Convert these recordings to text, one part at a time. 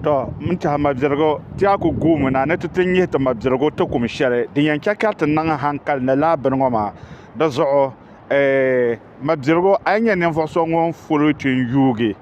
To n tiɛhi mabirigu ti a ku guumi na ni ti ti nyihi ti mabirigu ti kum shɛli din yɛn chɛ ka ti niŋ hankali ni laa bini ŋɔ maa. Di zuɣu eh, mabirigu a yi nyɛ ninvuɣ so ŋun foli kpi n-yuugi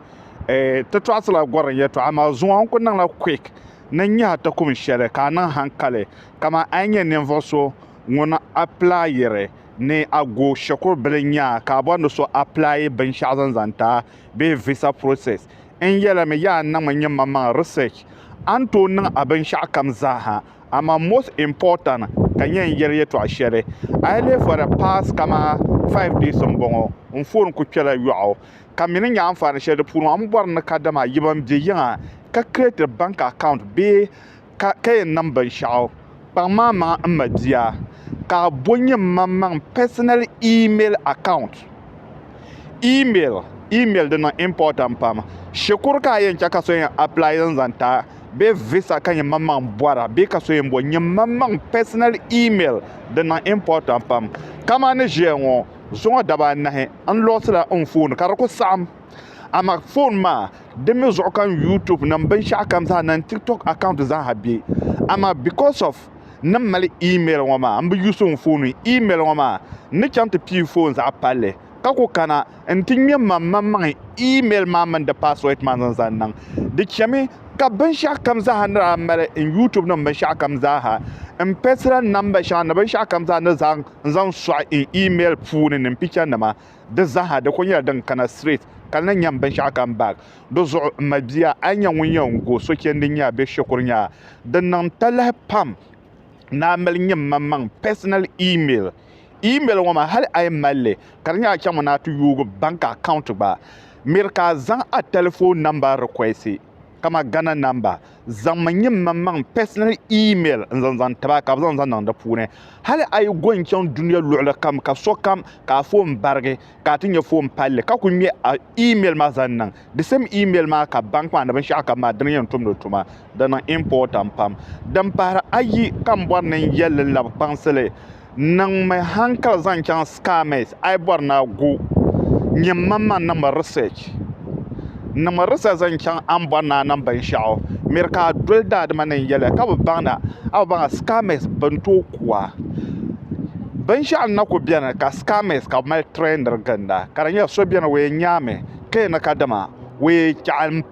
eh, ti tɔɣisila gɔrim yɛtɔɣa, amaa zuŋɔ n ku niŋla quick ni n-nyihi a ti kum shɛli ka a niŋ hankali kaman a yi nyɛ ninvuɣ so ŋun appilayiri ni a go shikuru bili nyaa ka a bɔri ni so appilayi binshɛɣu zaŋ zaŋ ti a bee visa process N yɛlimi ya a niŋmi nyinmamaŋ research a ni tooi niŋ a binshɛɣu kam zaaha amaa most important ka nyɛ n yɛli yɛtɔɣ shɛli a yi lihi for the past kamani five days m-bɔŋɔ n phone kuli kpela yɔɣu ka mi ni nya anfaani shɛli di puuni maa m bɔri ni kadama yiba m-be yiŋa ka create bank account bee ka ka yɛn niŋ binshɛɣu kpaŋ ma maŋ n ma bia ka a bo n yɛn maŋ maŋ personal email account email email di niŋ important pam shikuru ka a yɛn chɛ ka so yɛn apply n zaŋ ti a bee visa ka yɛn maŋ maŋ bɔra bee ka so yɛn bo n yɛn maŋ maŋ personal email di niŋ important pam kamani ʒiya ŋɔ zuŋɔ daba anahi n loosila n phone ka di ku saɣim amaa foon maa di mii zuɣu ka n yuutuub nim binshɛɣu kam zaa ni n tiktok akawunt zaaha bɛ amaa bikos ɔf ni n mali iimɛl ŋɔ maa n bi yuus n foon iimɛl ŋɔ maa n ni chɛŋ ti pii foon zaɣ palli ka ku kana n ti ŋmɛ maŋmaŋmaŋ iimɛl maa mini di paaswɛd maa zaŋ zaŋ niŋ di chɛmi ka binshɛɣu kam zaaha ni daa mali n yuutuub nim binshɛɣu kam zaaha n pɛsira namba shɛŋa ni binshɛɣu kam zaa ni zaŋ n zaŋ sɔɣi n iimɛl puuni ni n picha nima Di zaaha di kuli nyɛla din kana straight ka di ni nyam binshɛɣu come back. Di zuɣu m ma bia a yi nya ŋun yɛn go sochɛndi n-nyɛ a bɛ shikuru nya a. Di niŋ talahi pam ni a mali nyɛ mmaŋmaŋ personal email. Email ŋɔ maa hali a yi mali li ka di nyɛ a chaŋmi ni a ti yoogi bank account gba miri ka a zaŋ a telephone number request. kama Ghana namba zaŋ mi nyim man maŋ personal email n zaŋ zaŋ tiba ka bi zaŋ zaŋ niŋ di puuni hali a yi go n chaŋ dunia luɣuli kam ka sokam ka a foon barigi ka a ti nyɛ foon palli ka ku ŋmɛ a email maa zaŋ niŋ the same email maa ka bank maa ni binshaɣu kam maa dini yɛn tumdi tuma di niŋ important pam din pahiri ayi ka n bɔri ni n yɛli labi kpaŋsili niŋmi hankali zaŋ chaŋ SCAMS a yi bɔri ni a gu nyɛmmaŋmaŋ niŋmi research niŋmi research zaŋ chaŋ a ni bɔri ni a niŋ binshɛɣu miri ka a doli daadama ni n yɛliya ka bi baŋ na a bi baŋ a SCAMS bini tooi ku a binshɛɣu n na ku bɛni ka SCAMS ka bi mali trainiri ginda ka di nyɛla so bɛni o yɛn nyaami ka yɛn ni kadama o yɛn chaɣim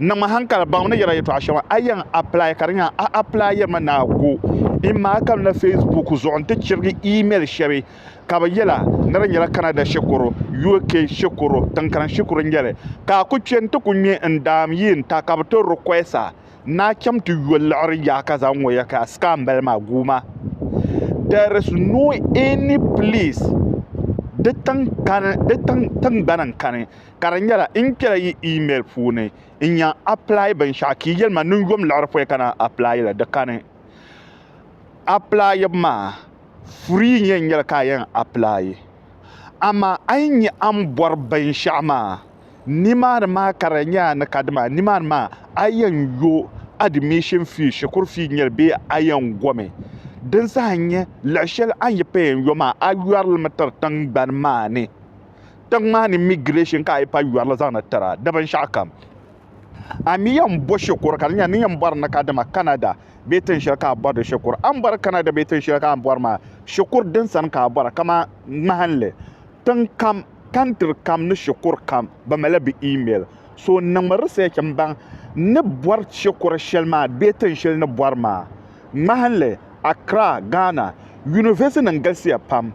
niŋmi hankali baŋmi ni yɛla yɛtɔɣa shɛŋa a yɛn apply ka di nya a apply yɛrimi ni a go in maa ka na facebook zuɣu n ti chirigi email shɛbi ka bi yɛla ni di nyɛla canada shikuru uk shikuru tinkariŋ shikuru nyɛli ka a ku kpɛ n ti ku ŋmɛ n daam yi n ta ka bi ti request a ni a chɛm ti yo liɣiri yaha ka zaŋ ŋɔ ya ka a scam bali maa guuma there is no any place di tingbani n kani ka di nyɛla n kpɛla yi email puuni n nya apply binshɛɣu ka yi yɛli ma niŋ yom liɣiri pɔi ka na apply la di kani apply maa free n yɛn nyɛli ka a yɛn apply amaa a yi nya a ni bɔri binshɛɣu maa nimaani maa ka di nyɛ a ni ka dima nimaani maa a yɛn yo admission fee shikuru fee nyɛli bee a yɛn gomi din saha n-nyɛ luɣ shɛli a ni yi payɛn yo maa a yɔrilimi tiri tiŋgbani maa ni tiŋ maa ni migration ka a yi pa yɔrili zaŋdi tira di binshɛɣu kam a mi yɛn bɔ shikuru ka di nyɛla ni yɛn bɔri ni ka dama Canada bee tiŋ shɛli ka a bɔri di shikuru a ni bɔri Canada bee tiŋ shɛli ka a bɔri maa shikuru din sani ka a bɔra kamani ŋmahinli tiŋ kam country kam ni shikuru kam bɛ malila bɛ email so n niŋmi research n baŋ ni bɔri shikuru shɛli maa bee tiŋ shɛli ni bɔri maa ŋmahinli Accra, Ghana, University nim galisiya pam.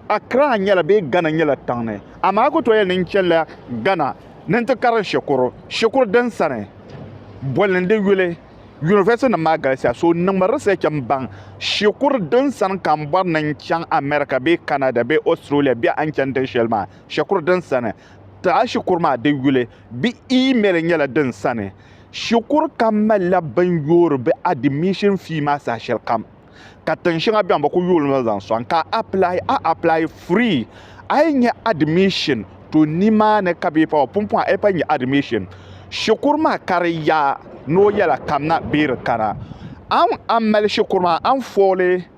Accra nyɛla bee Ghana nyɛla tiŋ ni, amaa a ku tooi yɛli ni n chanila Ghana ni n ti karim shikuru shikuru din sani boli ni di yuli. University nim maa galisiya, so niŋmi research n baŋ shikuru din sani ka n bɔri ni n chaŋ America bee Canada bee Australia bee a ni chani tiŋ shɛli maa shikuru din sani ti a shikuru maa di yuli bee email nyɛla din sani. Shikuru kam malila bini yoori bɛ admission fee maa saha shɛli kam ka tiŋ shɛŋa bɛn bɛ kuli yooli noli zaŋ sɔŋ ka a apply a apply free a yi nya admission to nimaani ka bɛ pa pumpɔŋ a yi pa nya admission shikuru maa ka di yaa ni o yɛla kamina bee di kana a ni mali shikuru maa a ni fooli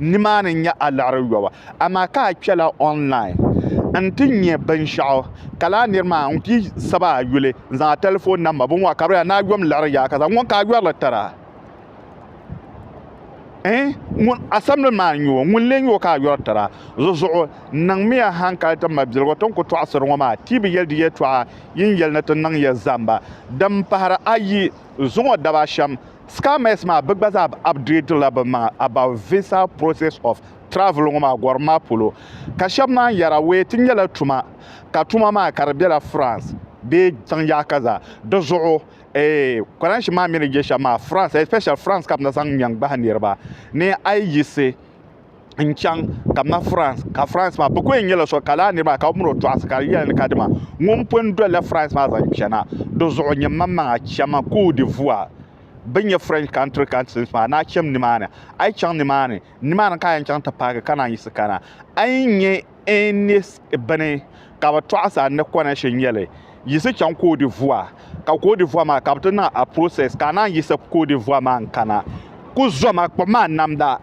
nimaani n-nyɛ a liɣiri yɔbu amaa ka a kpɛla online n-ti nya binshɛɣu ka lala nir maa ŋun pii sab a yuli n-zaŋ a tɛlifon namba binŋɔ ka bɛ daa ni a yom liɣiri yaa ka zaŋ ŋun ka a yɔri li tira ɛɛh ŋun asamli maa n-nyɛ o ŋun lee nyɛ o ka a yɔri tira di zuɣu niŋmiya haŋkali ti mabiligu ti ni ku tɔɣisiri ŋɔ maa ti yi bi yɛli di yɛtɔɣa yin yɛli ni ti niŋ ya zamba din pahiri ayi zuŋɔ daba shɛm Scammers maa bɛ gba zaa upgrade la bɛ maŋa about visa process of travel ŋɔ maa gɔrim maa polo ka shɛba naan yɛra wee ti nyɛla tuma ka tuma maa ka di bela France bee tiŋ yaɣa ka zaa di zuɣu eh kɔrɛnshi maa mi ni je shɛm maa France especially France ka bɛ ni zaŋ mɛŋ gbahi niriba ni a yi yiɣisi n chɛŋ ka bi na furans ka furans maa bi ku yɛn nyɛla so ka laa niraba ka bi mini o tɔɣasi ka di yɛli ni ka dima ŋun pun dolila furans maa zaŋ chɛna dizuɣu nyɛ n maŋmaŋa chɛma koot divuwar bi ni nyɛ furɛnch kantiri kantilis maa ni a chɛm nimaani a yi chɛŋ nimaani nimaani ka a yɛn chɛŋ ti paaki ka naan yiɣisi kana a yi ni nyɛ N ni bini ka bi tɔɣisi a ni kɔna shee nyɛli, yiɣisi chaŋ koodi vua, ka koodi vua maa ka bi ti niŋ a process ka a naan yiɣisi koodi vua maa n kana. Ku zɔma kpuɣi ma namda,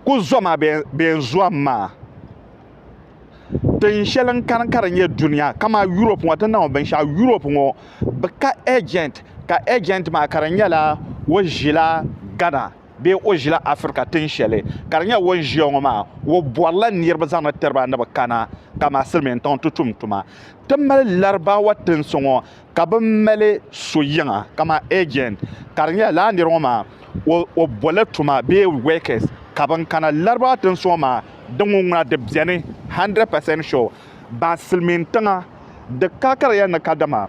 ku zɔma bɛ n zɔm maa. Tin shɛli n kani ka di nyɛ dunia kaman Europe ŋɔ ti niŋ binshɛɣu Europe ŋɔ bi ka agent ka agent maa ka di nyɛla o ʒila Ghana. bee o ʒila Afirika tin shɛli ka di nyɛ o ni ʒiya ŋɔ maa, o bɔrila niriba zaŋdi tiri ba ni bɛ kana ka maa silimiintiŋ ti tum tuma. Ti mali Larabawa tinsi ŋɔ ka bɛ mali so yiŋa kamani agent ka di nyɛla lala nira ŋɔ maa o o bɔrila tuma bee workers ka ban kana Larabawa tinsi ŋɔ maa di ŋun ŋuna di beni 100% sure ban silimiintiŋa di ka ka di yɛn ni ka dama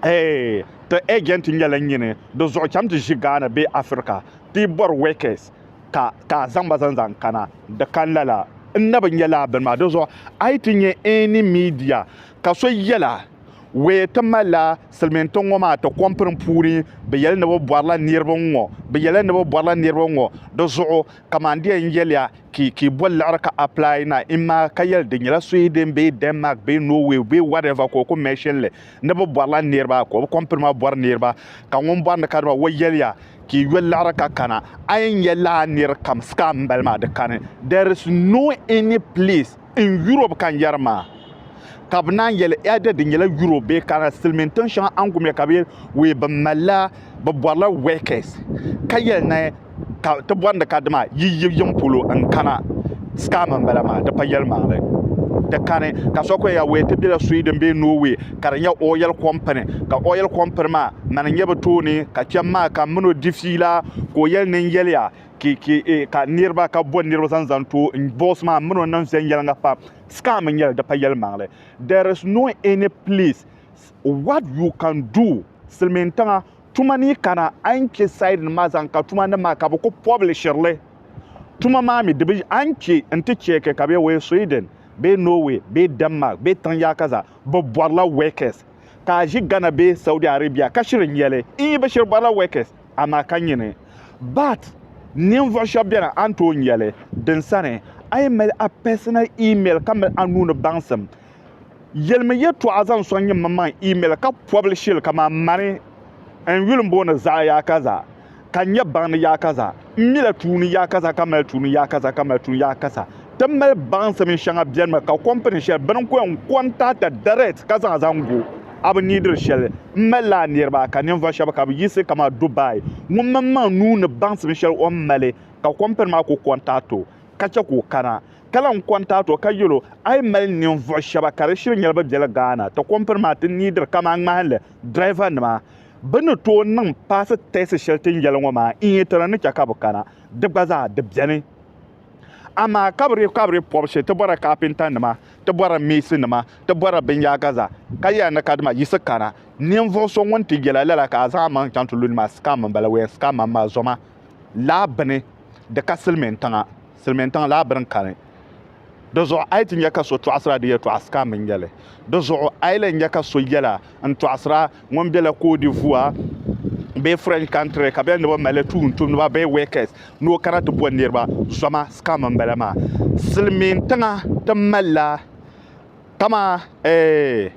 Eeh, ti agent nyɛla nyini di zuɣu cham ti ʒi Ghana bee Africa ti bɔri workers ka ka a zaŋ ba zaŋ zaŋ kana. Di kani lala. N na bi nya lala bini maa. Di zuɣu a yi ti nya any media ka so yɛla wee ti malila silimiintiŋ ŋɔ maa ti kɔmpini puuni bi yɛli ni bi bɔrila niriba n-ŋɔ bi yɛla ni bi bɔrila niriba n-ŋɔ. Di zuɣu kaman di yɛn yɛliya ki ki bɔ liɣiri ka apply na in maa ka yɛli di nyɛla Sweden bee Denmark bee Norway bee whatever ka o ku mention li. ni bi bɔrila niriba ka o bi kɔmpiri ma bɔri niriba ka ŋun bɔri ni ka dima o yɛliya ka i yoli laɣiri ka kana a yi nyɛ laa niri kam scam n bali maa di kani there is no any place in Europe ka n yɛri maa ka bi naan yɛli ɛda di nyɛla Europe bee kana silimiin tiŋ shɛŋa angumiya ka bi yɛli wee bi malila bɛ bɔrila workers ka yɛli ni ka ti bɔrindi ka dima yi yi yiŋ polo n kana scam n bala maa di pa yɛlimaŋli di kani ka so kuli ya wee ti bela Sweden bee Norway ka di nyɛ oil company ka oil company maa mani nyɛ bi tooni ka kpɛm maa ka mini o di fiila ka o yɛli ni n yɛliya eh, ka niriba ka bo niriba zaŋ zaŋ to n boss maa mini o niŋ viɛnyɛliŋga pam scam n nyɛli di pa yɛlimaŋli there is no any place what you can do silimiin tiŋa tuma ni kana a ni che side nim maa zaŋ ka tuma nim maa ka bi ku publishiri li tuma maa mi di bi a ni che n ti cheeke ka bɛ wee Sweden bee Norway bee Denmark bee tiŋ yaa ka zaa bi bɔrila workers ka a ʒi Ghana bee Saudi Arabia ka shiri n-yɛli n yi bi shiri bɔrila workers amaa ka nyini but ninvuɣu shɛba beni a ni tooi n-yɛli din sani a yi mali a personal email ka mali a nuu ni baŋsim Yelimi yɛtɔɣa zaŋ sɔŋ nyɛ maŋmaŋ email ka pɔbili shili kaman mani n-yuli m-booni zaɣ yaakaza ka nyɛ baŋdi yaakaza m-mila tuuni yaakaza ka mali tuuni yaakaza ka mali tuuni yaakaza ti mali baŋsim shɛŋa bɛnimi ka kɔmpini shɛli bini ko n kɔntaata direct ka zaŋ zaŋ go a bi niidiri shɛli m mali la a niriba ka ninvuɣ shɛba ka bi yiɣisi kaman Dubai ŋun maŋmaŋ nuu ni baŋsim shɛli o ni mali ka kɔmpini maa ku kɔntaati o ka chɛ ka o kana ka lan kɔntaati o ka yɛl o, A yi mali ninvuɣ shɛba ka di shiri nyɛla bɛ bela Ghana, ti kompiri maa ti niidiri kaman ŋmahinli dirɛvanima. Bɛ ni tooi niŋ paasi tɛɛsi shɛli ti yɛli ŋɔ maa n-yi ti na ni chɛ ka bɛ kana, di gba zaa di beni. Amaa ka bɛ dii ka bɛ dii pɔbi shee, ti bɔrila kaapentanima, ti bɔrila meesinima, ti bɔrila binyaaga zaa, ka yɛli ni kadama yiɣisi kana, ninvuɣ so ŋun ti yɛla lala ka a zaŋ amaŋ chaŋ ti lu ni maa, scam m-bala, we are scammers maa zoma laa bini di ka silimintiŋa. silimiintiŋ laa bini kani. Di zuɣu a yi ti nya ka so tɔɣisira di yɛtɔɣa sikaam n-nyɛ li. Di zuɣu a yi lan nya ka so yɛla n-tɔɣisira ŋun bela Cote d'Ivoire bee French country ka bɛ ni bi mali tuuntumdiba bee workers ni o kana ti bɔn niriba zɔma, sikaam m-bala maa. Silimiintiŋa ti malila kaman eeh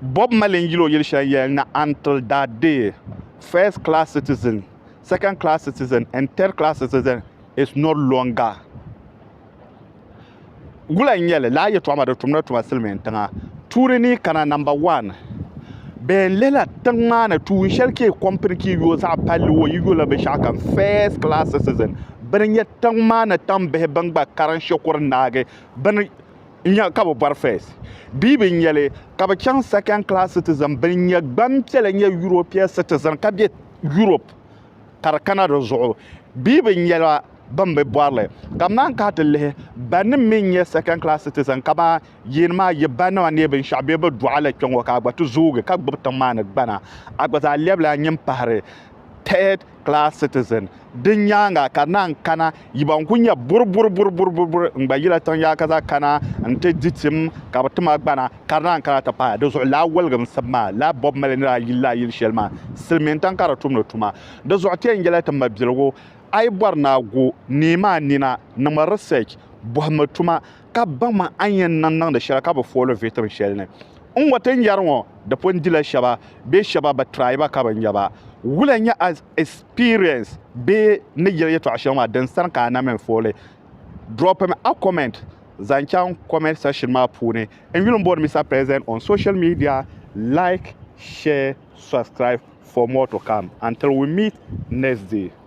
Bob Marley n-yil o yili shɛli yɛli ni Until That Day, First Class Citizen, Second Class Citizen and Third Class Citizen it's not longer gula n nyɛli laa yɛtɔɣa maa di tumdi tuma silmiin tiŋa tuuli ni kana namba wan bee n lihila tiŋ maa ni tuun shɛli ka yi kɔmpini ka yi yo zaɣ palli wo yi yola binshaɣu kam first class citizen bini nyɛ tiŋ maa ni tam bihi bin gba karin shikuru naagi bini nyɛ ka bi bɔri first bia bi nyɛli ka bi chaŋ second class citizen bini nyɛ gbanpiɛla nyɛ european citizen ka bɛ europe ka di kana di zuɣu bia bi nyɛla bin bi bɔrili ka bi naan kana ti lihi ba nim mii n-nyɛ second class citizen kamani yeen maa yi ba nima neei binshɛɣu bee bi dɔɣi li kpɛŋɔ ka a gba ti zoogi ka gbubi tiŋ maa ni gbana a gba zaa lɛbila a nyin pahiri third class citizen di nyaaŋa ka di naan kana Yi ban ku nya burburburburburbur n-gba yila tiŋ yaa ka zaa kana nti di tim ka bɛ tim a gbana ka di naan kana ti pahi di zuɣu laa woliginsim maa laa bɔbu mali nir ayili laa yili shɛli maa silimiintiŋ ka di tumdi tuma di zuɣu ti yɛn yɛla ti mabiligu a yi bɔri ni a gu neem a nina niŋmi research bɔhimmi tuma ka baŋma a ni yɛn niŋ niŋdi shɛli ka bi fooli viitiri shɛli ni n ŋɔ ti nyari ŋɔ, di pun dila shɛba bee shɛba bi try ba ka bi nya ba. Wula n-nyɛ a experience bee ni yɛli yɛtɔɣ shɛŋa maa din sani ka a na mi fooli? Dropim a comment zaŋ chaŋ comment section maa puuni. N yuli m-bɔri Mister President on social media, like, share, subscribe for more to come until we meet next day.